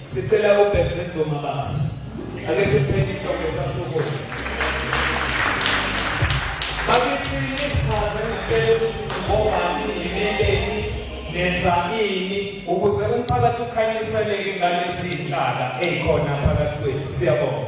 Sicela ubheze nzoma basi. Ake siphele inhloko esasukume. Bakithi isichaze ngicela ukuthi ngobani ngimeleni nenza ini ukuze umphakathi ukhanyiseleke ngalezi zinhlaka ezikhona phakathi kwethu. Siyabonga.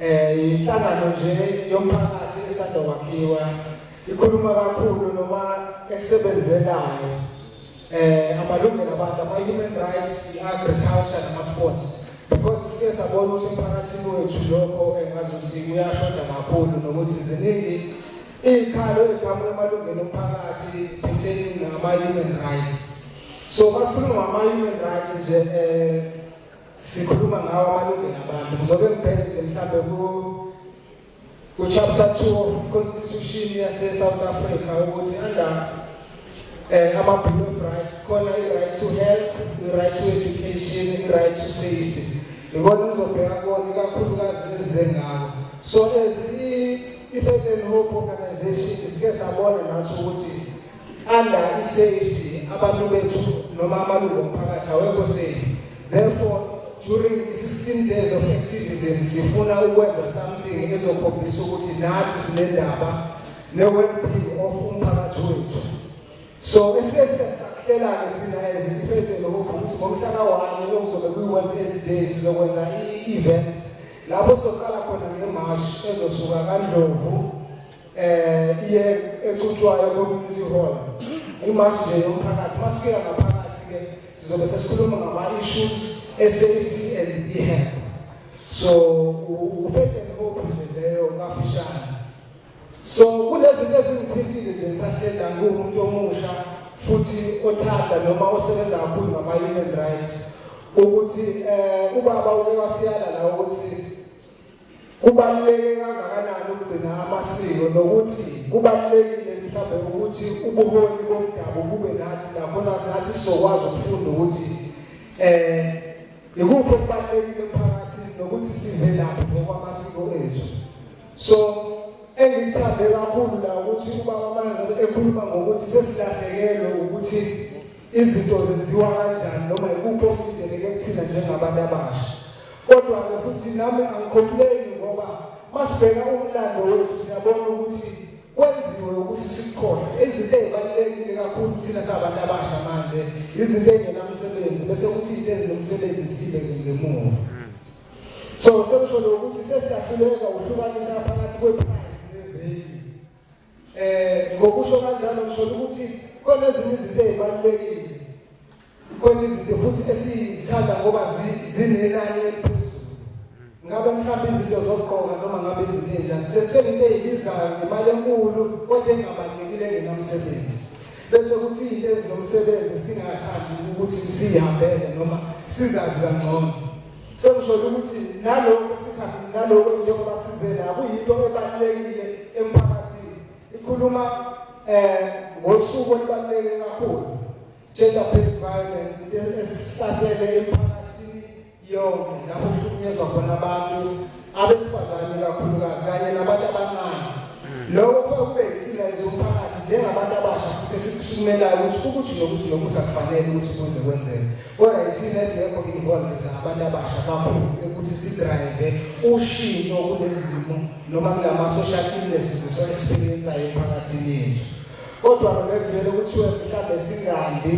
Eh inhlangano nje yomphakathi esanda kwakhiwa ikhuluma kakhulu noma esebenzelayo eh amalungelo abantu ama human rights, agriculture nama sports because sike sabona ukuthi emphakathini wethu lokho engazuthi kuyashoda kakhulu nokuthi ziningi izikhalo eziqhamuka emalungelo omphakathi pertaining nama human rights so masikhuluma ngama human rights nje eh sikhuluma ngawo amalungelo abantu kuzobe kuphele nje mhlawumbe ku ku-chapter two of constitution yase-south africa ukuthi under um eh, ama-bill of rights khona i-right to health i-right to education i-right to safety ngibona ngizobheka kona ikakhulukazi ezizengako so as i-faith and hope organization sike sabona nathi ukuthi under i-safety abantu bethu noma amalungu omphakathi awekho safe therefore during 16 days of activism sifuna ukwenza something ezokhombisa ukuthi nathi sinendaba ne-wellbeing of umphakathi wethu so esesesakhelane sina eziphethe lokuthi ngomhlaka wani okuzobe kwi-world aids day sizokwenza i-event lapho soqala khona ngemashi ezosuka kandlovu eh iye ecuthwayo community hall imashi nje yomphakathi masifika ngaphakathi ke sizobe sesikhuluma ngama issues esafety and e-health so uphethe hope nje leyo kafishane so kunezinto ezingithintile nje ngisahlenda ngumuntu omusha futhi othanda noma osebenza kakhulu ngama human rights ukuthi eh ubaba uke wasiyala la ukuthi Kubaluleke kangakanani ukugcina amasiko nokuthi kubalulekile mhlawumbe ukuthi ubuholi bomdabu bube nathi nakhona nathi sizokwazi ukufunda ukuthi eh yikuphi okubalulekile phakathi nokuthi sivelaphi ngokwamasiko ethu so engithande kakhulu la ukuthi ubaba manje ekhuluma ngokuthi sesilahlekelwe ukuthi Izinto zenziwa kanjani noma ikuphi okulindeleke kuthina njengabantu abasha. Kodwa-ke futhi nami angikhomuleki ngoba masibheka umlando wethu siyabona ukuthi kwenziwe ukuthi sisikhohle izinto ezibalulekile kakhulu thina sabantu abasha manje izinto ezingenamsebenzi bese kuthi izinto ezinomsebenzi sibe ngemuva so sekusho lokuthi sesiyahluleka uhlukanisa phakathi kwephakathi Eh ngokusho kanjalo ngisho ukuthi khona ezinye izinto ezibalulekile. Khona izinto futhi esizithanda ngoba zinenani eliphezulu. Ngabe mhlawumbe izinto zokugqoka noma ngabe izinto enjani. Sesithenga into ezibizayo ngemali enkulu kodwa engabalulekile engenamsebenzi. Bese kuthi into ezomsebenzi singathandi ukuthi sihambele noma sizazi kangcono. Sekusholo ukuthi nalokho sikhathi nalokho njengoba sizela akuyinto ebalulekile emphakathini. Ikhuluma eh ngosuku olubaluleke kakhulu. Gender based violence esisasele emphakathini yonke lapho kuhlukunyezwa khona abantu abesifazane kakhulukazi kanye nabantu abancane lokho kuba kube yisilayizo umphakathi njengabantu abasha futhi esikusukumelayo ukuthi ukuthi nokuthi nokuthi akufanele ukuthi kuze kwenzeke kodwa isimo esingekho involved abantu abasha kakhulu ukuthi sidrayive ushintsho kulezi zimo noma kulama-social illnesses esiwa-experiensayo emphakathini yethu kodwa nobevele kuthiwe mhlawumbe singandi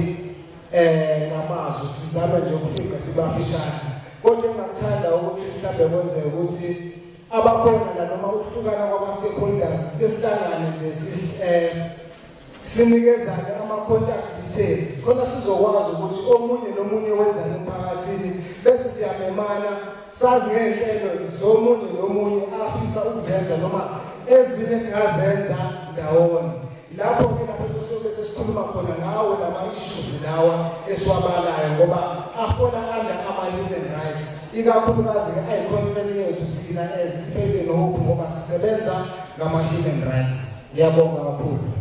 eh ngamazwi sizama nje ukufika sibafishane kodwa engakuthanda ukuthi mhlawumbe kwenzeke ukuthi abakhona la noma ukuhlukana kwama-stakeholders sike sihlangane nje eh, sinikezane ama-contact details khona sizokwazi ukuthi omunye nomunye wenzani emphakathini bese siyamemana sazi ngey'nhlelo zomunye nomunye afisa ukuzenza noma ezinye singazenza ndawonye Lapho ke lapho sesiyobe sesikhuluma khona ngawo lama issues lawa esiwabalayo ngoba afona under ama human rights ikakhulukazi ke ayi concern yethu sina as iphele ngoku ngoba sisebenza ngama human rights. Ngiyabonga kakhulu.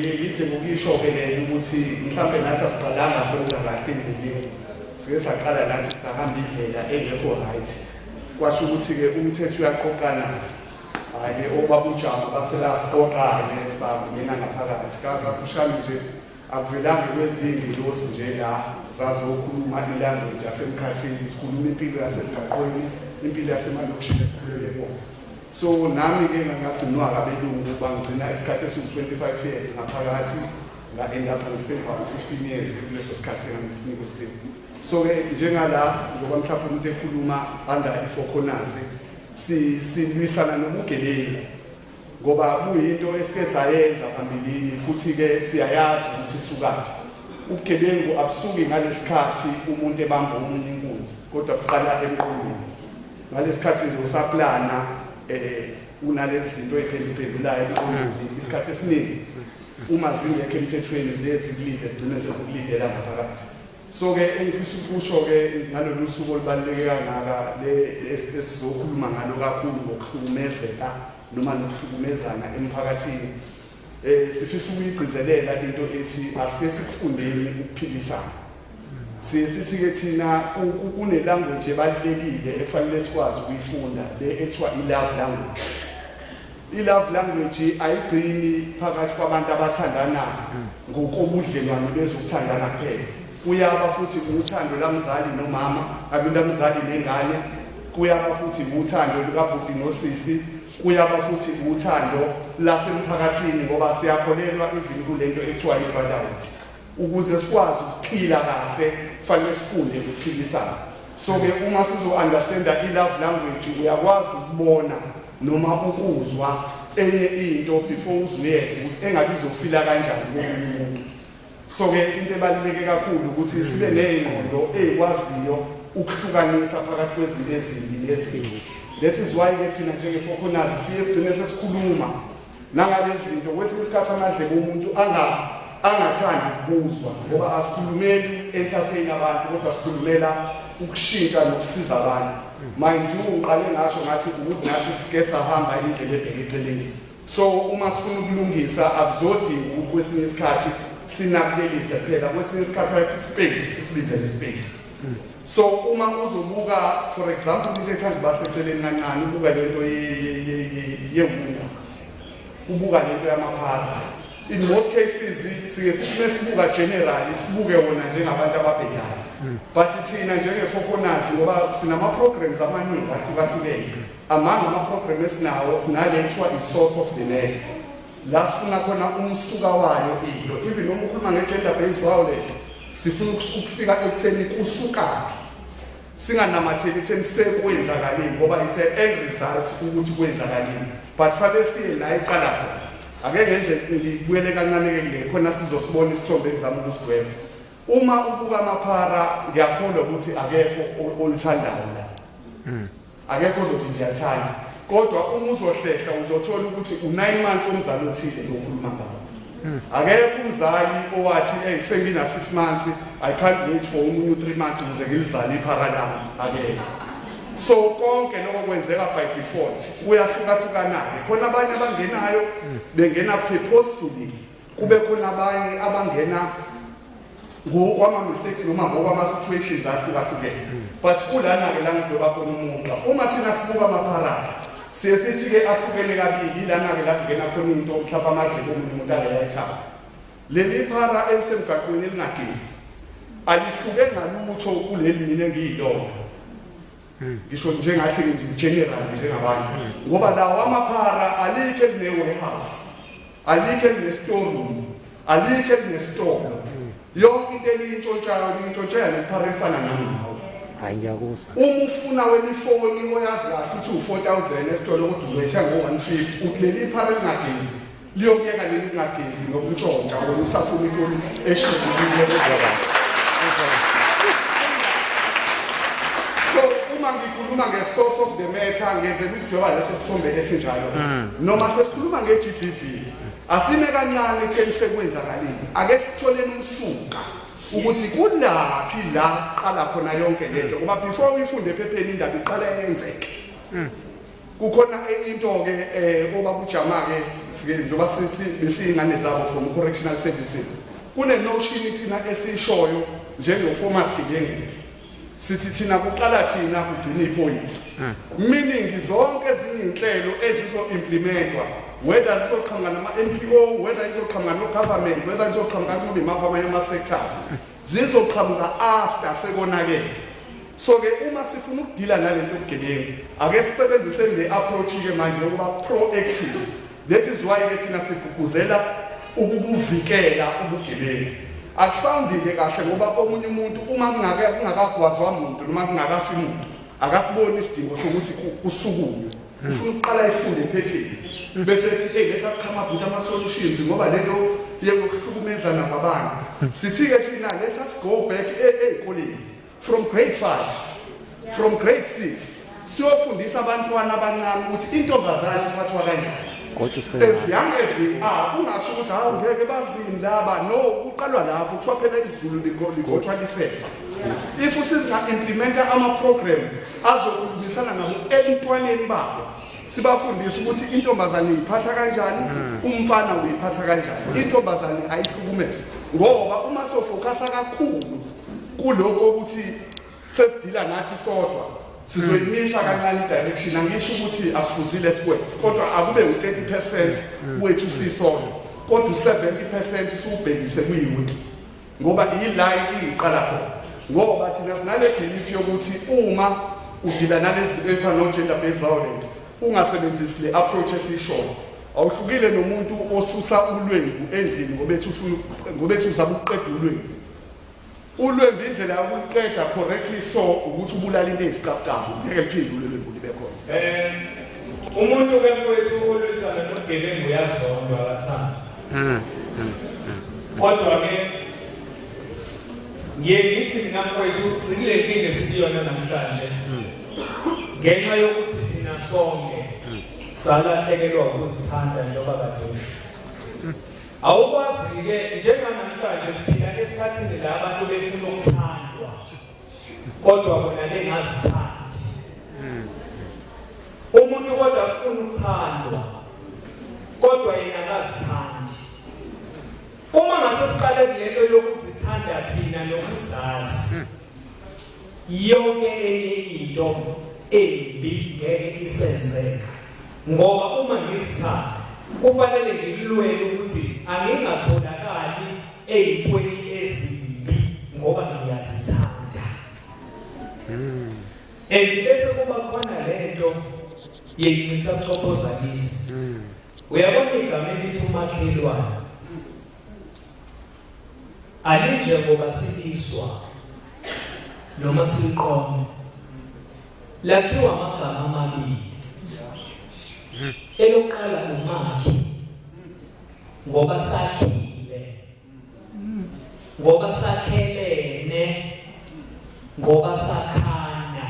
yithi ngokisho-ke lena ukuthi mhlawumbe nathi asiqalanga senza kahle endleleni sike saqala nathi sahamba indlela engekho right kwasho ukuthi-ke umthetho uyaqoqana hhayi-ke obaba ujama baselasiqoqane sangena ngaphakathi kafushane nje akuvelanga kwezingi losi nje la zazokhuluma ilanguage yasemkhathini sikhuluma impilo yasemgaqweni impilo yasemalokishini esikhulele bona so nami ke ngangagcinwa ngabelungu bangigcina isikhathi esiwu-25 years ngaphakathi nga-end up ngisemva 15 years kuleso sikhathi engangisinika usizo so-ke njengala ngoba mhlawumbe umuntu ekhuluma under i-four corners silwisana nobugebengu ngoba kuyinto esike sayenza phambilini futhi-ke siyayazi ukuthi isukaphi ubugebengu abusuki ngalesikhathi umuntu ebamba omunye inkunzi kodwa buqala emqondweni ngalesikhathi nje usaplana eh unalezi zinto eziphenduphendulayo mm. isikhathi esiningi uma zingekho emthethweni ziye zikulinde zigcine sezikulindela ngaphakathi so-ke engifisa ukusho-ke ngalolu suku olubaluleke kangaka esizokhuluma ngalo kakhulu ngokuhlukumezeka noma nokuhlukumezana emphakathini Eh sifisa ukuyigcizelela into ethi asike sikufundeni ukuphilisana. Siye sithi ke thina kune language ebalekile efanele sikwazi ukuyifunda le ethiwa i love language. I love language ayigcini phakathi kwabantu abathandana ngokobudlelwane bezokuthandana kuphela. Kuyaba futhi uthando lamzali nomama, abinda mzali nengane, kuyaba futhi uthando lukabhuti nosisi Kuyaba futhi uthando lasemphakathini ngoba siyakholelwa even kulento ekuthiwa i-brotherhood. Ukuze sikwazi ukuphila kahle kufanele sifunde ukuphilisana. So ke uma sizo-understanda i-love language uyakwazi ukubona noma ukuzwa enye into before uzuyenze ukuthi engabe izofila kanjani komunye umuntu. So-ke into ebaluleke kakhulu ukuthi sibe ney'ngqondo ey'kwaziyo ukuhlukanisa phakathi kwezinto ezimbi nezinto that is why-ke thina njengefokonazi siye sigcine sesikhuluma nangalezi zinto kwesinye isikhathi amadlebe umuntu angathandi ukubuzwa ngoba asikhulumeli entertain abantu kodwa sikhulumela ukushintsha nokusiza abantu mind you uqale ngasho ngathi ukuthi nathi sike sahamba indlela ebheke eceleni so uma sifuna ukulungisa akuzodinga ukuthi kwesinye isikhathi sinakulelise phela kwesinye isikhathi ayisisipedi sisibize ngesipedi so uma uzobuka for example into ethanda uba seceleni kancane ubuka le nto yewunda ubuka le nto yamaphara in most cases sike sifune sibuka generally sibuke wona njengabantu ababhedayo but thina njenge-foconasi ngoba sinama-programs amaningi ahlukahlukene Amanga amaprogramu esinawo sinale kuthiwa i-source of the net la sifuna khona umsuka wayo into even uma ukhuluma nge-gender based violence sifuna ukufika ekutheni kusukaphi singanamatheli ekutheni sekwenzakalini ngoba it's an end result ukuthi kwenzakalini but fanele siye la iqala khona ake ngenze ngibuyele kancane-ke kule khona sizosibona isithombe engizama ukusigweba uma ubuka amaphara ngiyakholwa ukuthi akekho olithandayo la hmm. akekho ozothi ndiyathanda kodwa uma uzohlehla uzothola ukuthi u-nine months omzali othile lokhuluma ngawo akekho umzali owathi eyi sengina-six months i can't wait for umunye u-three months ukuze ngilizale iphara lami akekho so konke lokho kwenzeka by default kuyahlukahlukanake khona abanye abangenayo bengena purposefully kube khona abanye abangena ngokwama-mistakes noma ngokwama-situations ahlukahlukene but kulana-ke la ngidoba khona umunxa uma thina sibuka amapharada siye sithi-ke ahlukene kabili ilana-ke la kungena khona into mhlawumbe amadlebe omunye umuntu angeyayithaba leli phara elisemgaqweni elingagezi alihluke ngalutho kuleli mina engiyilona ngisho nje ngathi general njengabantu ngoba lawa amaphara alikho eline-warehouse alikho eline-storeroom alikho elinesitolo yonke into eliyintshontshayo liyintshontshayo nephara efana nangawo hayi ngiyakuzwa uma ufuna wenifoni oyazi kahle ukuthi u-four thousand esitolo kodwa uzoyithenga ngo-one fifty uthi leli phara elingagezi liyokuyeka leli kungagezi nokuntshontsha wena usafuna ifoni eshubulile kuzaba so uma ngikhuluma nge-source of the matter ngenzela ukudweba leso sithombe esinjalo mm. noma sesikhuluma nge-gbv asime kancane ekutheni sekwenzakalile ake sitholeni umsuka ukuthi kulaphi la qala khona yonke lento ngoba before uyifunde ephepheni indaba iqala yenzeke mm. kukhona enye into-ke um eh, obaba ujama-ke njengoba besiyingane zabo from correctional services kunenoshini thina esiyishoyo njengofomas gibengile sithi thina kuqala thina kugcina iphoyisa hmm. meaning zonke ezinye iy'nhlelo ezizo-implementwa whether zizoqhamuka nama-npo whether izoqhamuka no-government whether izoqhamuka kunimaphi amanye ama-sectors zizoqhamuka after sekonakele so ke uma sifuna ukudila nalento yobugebengu ake sisebenzise le approach ke manje lokuba proactive lethi ziwaye ke thina sigqugquzela ukubuvikela ubugebengu akusawundile kahle ngoba omunye umuntu uma kungake kungakagwazwa muntu noma kungakafi muntu akasiboni isidingo sokuthi kusukume ufuna ukuqala ifunde ephephile bese ethi hey letha sikhama bhuti ama solutions ngoba lento yokuhlukumezana kwabanye sithi ke thina let us go back ezikoleni from grade 5 from grade 6 siyofundisa abantwana abancane ukuthi intombazane iphathwa kanjani as young as they are ungasho ukuthi hawu ngeke bazini laba no kuqalwa lapho kuthiwa phela izulu ligothwa lisefa if usizinga-implimenta ama-program azokhulumisana nabo ebuntwaneni babo sibafundise ukuthi intombazane uyiphatha kanjani hmm. umfana uyiphatha kanjani hmm. intombazane ayihlukumeze ngoba uma sofokasa kakhulu kuloko ukuthi sesidila nathi sodwa sizoyimisa hmm. kancane i-direction angisho ukuthi akufuzile sikwethu kodwa akube u-30 percent wethu sisodwa kodwa u-70 percent siwubhekise kuyuti ngoba yila inkinga iqala khona ngoba thina sinale belief yokuthi uma udila nalezi zinto ey'fana no-gender based violence ungasebenzisi le approach esiyishona awuhlukile nomuntu osusa ulwembu endlini ngobethi uzama ukuqeda ulwembu ulwembu indlela yokuliqeda correctly so ukuthi ubulala into eyisicabucabu ngeke liphinde ulwembu libe khona um umuntu ke mfowethu olwisana nogebengu uyazondwa akathanda hmm, hmm, hmm. kodwa ke ngiye ngithi mina mfowethu sikule nkinga esiyona namhlanje ngenxa yokuthi thina sonke salahlekelwa ukuzithanda njengoba kade usho awukwazi-ke njenganamhlanje siphila esikhathini la abantu befuna ukuthandwa kodwa bona bengazithandi umuntu kodwa ufuna ukuthandwa kodwa yena akazithandi uma ngase siqale kulento yokuzithanda thina nokuzazi yonke enye into embi ngeke isenzeka ngoba uma ngizithanda kufanele ngilulwele ukuthi angingatholakali eyintweni ezimbi ngoba ngiyazithanda hmm. and bese kuba khona lento yeyincisa kuchophoza kithi hmm. uyabona igama elithi umakhelwane alinjengoba sibizwa noma siqoma lakhiwa amagama amabili hmm. elokuqala umakhi ngoba sakhile ngoba sakhelene ngoba sakhana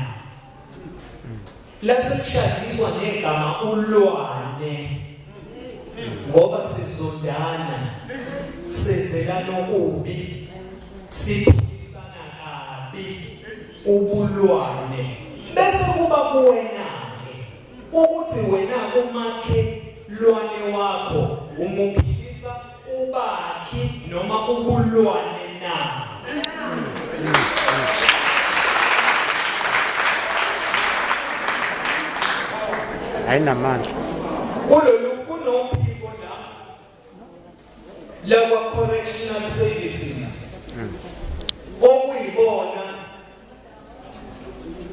lase kushadiswa ngegama ulwane ngoba sizondana senzela nokubi siphikisana kabi ubulwane bese kuba kuwena ukuthi wena umakhe lwane wakho umuphilisa ubakhi noma ubulwane na ayinamandla kulolu lakwa correctional services okuyibona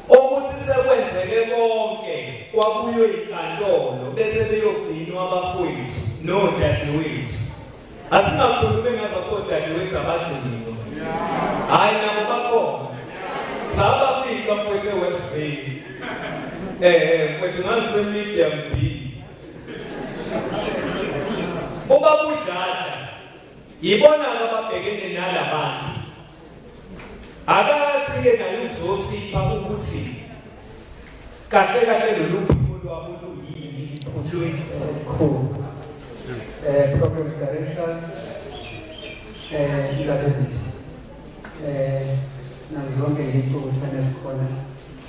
okuthi sekwenzeke konke kwabuywe inkantolo bese beyogcinwa abafowethu nodadewethu asingakhulumi ngazo sodadewethu abagciniwe hayi nabo bakhona saba fica mfowethu ewesiveli um mfowethu ngangisemedia mbi Ubaba uDladla yibona ababhekene nalabantu. Akathi ke naye uzosipha ukuthi kahle kahle lolu phiko lwabo luyini uJoyce Khulu. Eh program directors eh ilabezithe eh nazo zonke izicubu ezikhona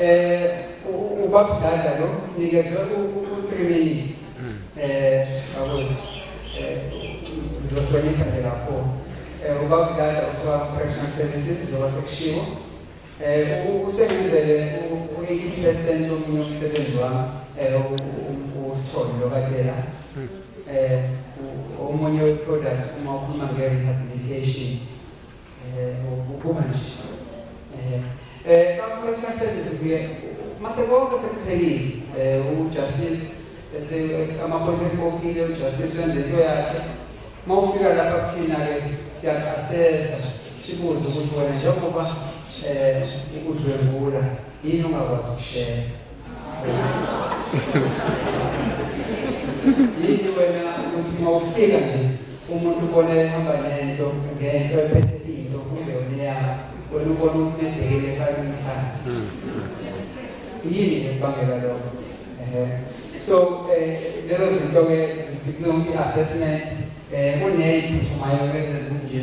um ubabudlada lo sinikezwe u-three minutes um bakwethu um ngizohlonipha nje lapho um ubabudlada usuka professional services njengoba sekushiwo um usebenzele u-eighty percent omunye umsebenzi wami um usithole lokadela um omunye weproduct uma ukhuluma nge-rehabilitation uphuma nje eh, eh bakuletha services ke mase konke sekuphelile eh ujustice esekamaphoyisa esikophile ujustice wenze into yakhe uma ufika lapha kuthina ke siyakuasesa sibuze ukuthi wena njengoba um ukudlwengula yini ongakwazi ukushela yini wena ukuthi uma ufika nje umuntu ubona ehamba nento ngento ephethe into kumbe yona eyakho wena ubona umuntu ebhekele fake umthathe yini ekubangela lokho ehe so eh, lezo zinto-ke zisibiza ukuthi i-assessment um kuneyiphuthuma yoke ezezinje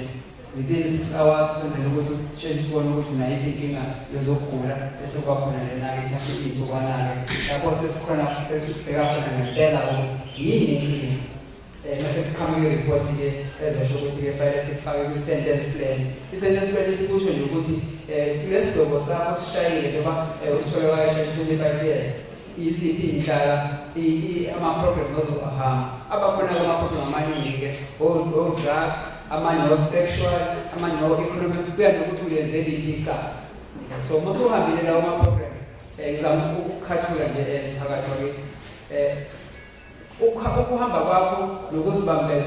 within six hours senzela ukuthi utshentshe sibone ukuthi nayiphi inkinga yezokugula esekwakhona lena-ke ithathe iy'nsukwana-ke lapho sesikhona sesibheka khona ngempela ukuthi yini inkinga um mase kuqhamuka iripoti nje ezosho ukuthi-ke fanele sikufake kwi-sentence plan i-sentence plan isikusho nje ukuthi um kulesi gcobo sakho sishayile njengoba usithole wayesha twenty five years Yiziphi inhlala ama-problem ozohamba abakhona kwama-problem amaningi-ke o-drug amanye o-sexual amanye o-economic kuya nokuthi ulenze liphi icala so uma usuhambile lawo ma-problem um ngizama ukukhathula nje um phakathi wakithi um ukuhamba kwakho nokuzibambela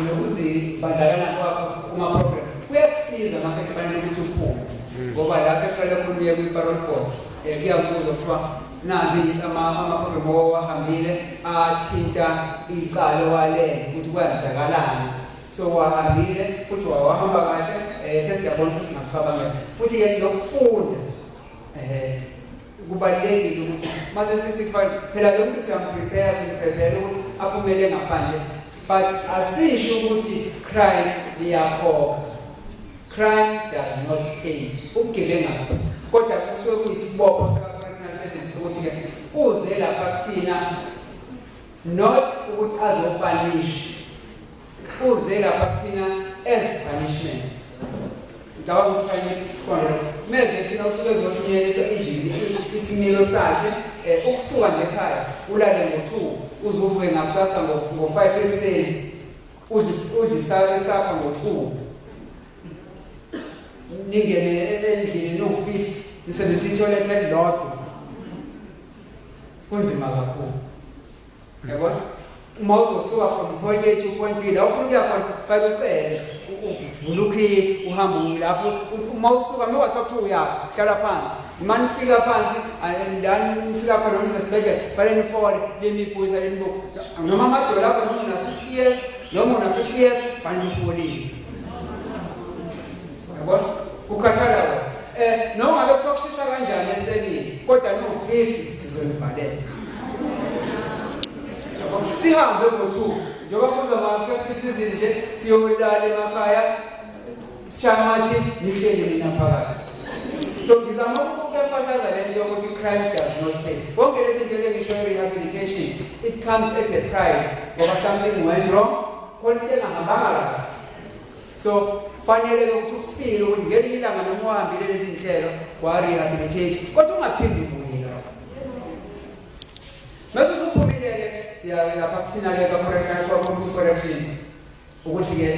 nokuzibandakanya kwakho kuma-program kuyakusiza uma sekufanele ukuthi uphume hmm. ngoba la sekufanele khuluye kwi-parol board um eh, kuyakubuza kuthiwa nazi ama-program owahambile athinta icala owalenza ukuthi kwenzakalani so wahambile futhi wawahamba kahle um sesiyabona ukuthi singacabangela futhi-ke nokufunda um kubalulekile ukuthi mase sesifana phela lo muntu siyamprepare simprepare ukuthi aphumele ngaphandle but asisho ukuthi crime liyakhokha crime does not pay ubugebenga kodwa kusuke kuyisibopho sakaprofessional service ukuthi-ke uze lapha kuthina not ukuthi azopanisha Uze lapha kuthina as punishment. Ngicabanga ukuthi kufanele khona meze kuthina usuke ezothunyelisa izini isimilo sakhe eh, ukusuka nje ekhaya ulale ngo-two uze uvuke ngakusasa ngo-five ekuseni udlisake sakha ngo-two ningene endlini niwu-fifty nisebenzisa ithoyilethe elilodwa kunzima kakhulu yabo uma uzosuka from point A to point B la ufuna ukuya khona fake ucele uvula ukhile uhambe lapho uma usuka uma wathi kuthiwa uyapha hlala phansi uma nifika phansi la nifika khona nise sibhedlela fanele nifole lenibuza lenibuku noma amadola akho noma una-sixty years noma una-fifty years fanele ufolile Siyabona? Ukhathala wena. Eh noma ngabe kuthiwa kushisa kanjani eselini kodwa no 50 sizonivalela. Sihambe ngo-2 njengoba kuzoba festive season nje siyolala emakhaya sishamathi nilele nina phakathi. So ngizama ukukuemphasiza le nto yokuthi crime does not pay. Konke lezi nto engisho rehabilitation it comes at a price ngoba something went wrong khona into engahambanga kahle. so fanele ukuthi ukufile ukuthi ngelinye ilanga noma uhambile lezi nhlelo warehabilitate kodwa ungaphindi ubuye lapho mase usuphumile-ke siyalapha kuthina-ke kwacorrection correction ukuthi-ke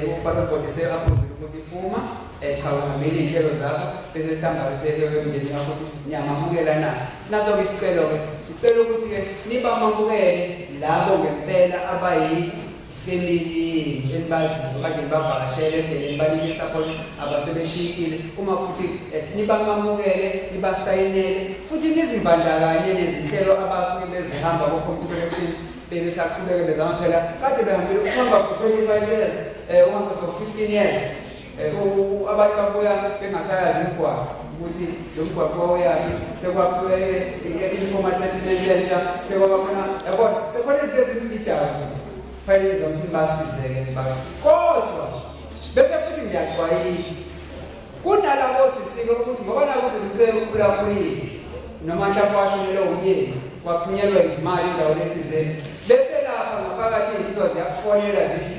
um ubalobhodi se-approve ukuthi phuma eh, cha uhambile iy'nhlelo zakho bese sihambake seyeke emndeni wakho ukuthi niyamamukela na naso-ke isicelo-ke sicela ukuthi-ke nibamamukele labo ngempela abayi lelini elibaziyo okanye libavakashele endleleni banike isakhono abasebeshintshile uma futhi eh, nibamamukele nibasayinele futhi nizimbandakanye nezinhlelo abasuke bezihamba ko-computer elections bebesaqhubeke bezama phela kade behambile ukuhamba for 25 years um eh, uma for 15 years abantu babuya bengasayazi imigwaqo ukuthi lo mgwaqo wawuyaphi sekwaphulele i-informal settlement entsha sekwabakhona yabona sekhona into ezingididayo fanele nje ukuthi nibasizeke nibaka kodwa bese futhi ngiyaxwayisa kunalabo sisike ukuthi ngoba nabo sesisekhulakhulile noma mhlawumbe washonelwe umyeni waphunyelwa izimali endaweni ethizeni bese lapha ngaphakathi izinsizwa ziyakufonela zithi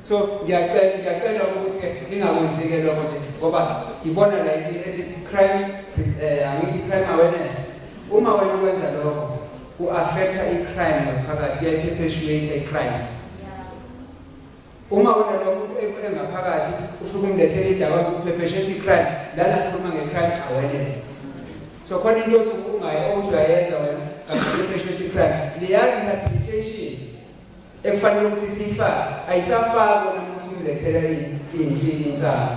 so ngiyacela ngiyacela ukuthi ke ningakwenzike lokho nje ngoba ngibona la ethi crime eh, angithi crime awareness uma wena wenza lokho ku-affecta i-crime ngaphakathi kuyayiphephesuate i-crime uma wena lo muntu engaphakathi ufike umlethele idaba kuphepheshela i-crime lana sikhuluma nge-crime awareness so khona into yothi ungaye okuthi uyayenza wena kakuphepheshi ukuthi i-crime liya-rehabilitation ekufanele ukuthi siyifake ayisafakwa namuhla uzilethela inkinga insana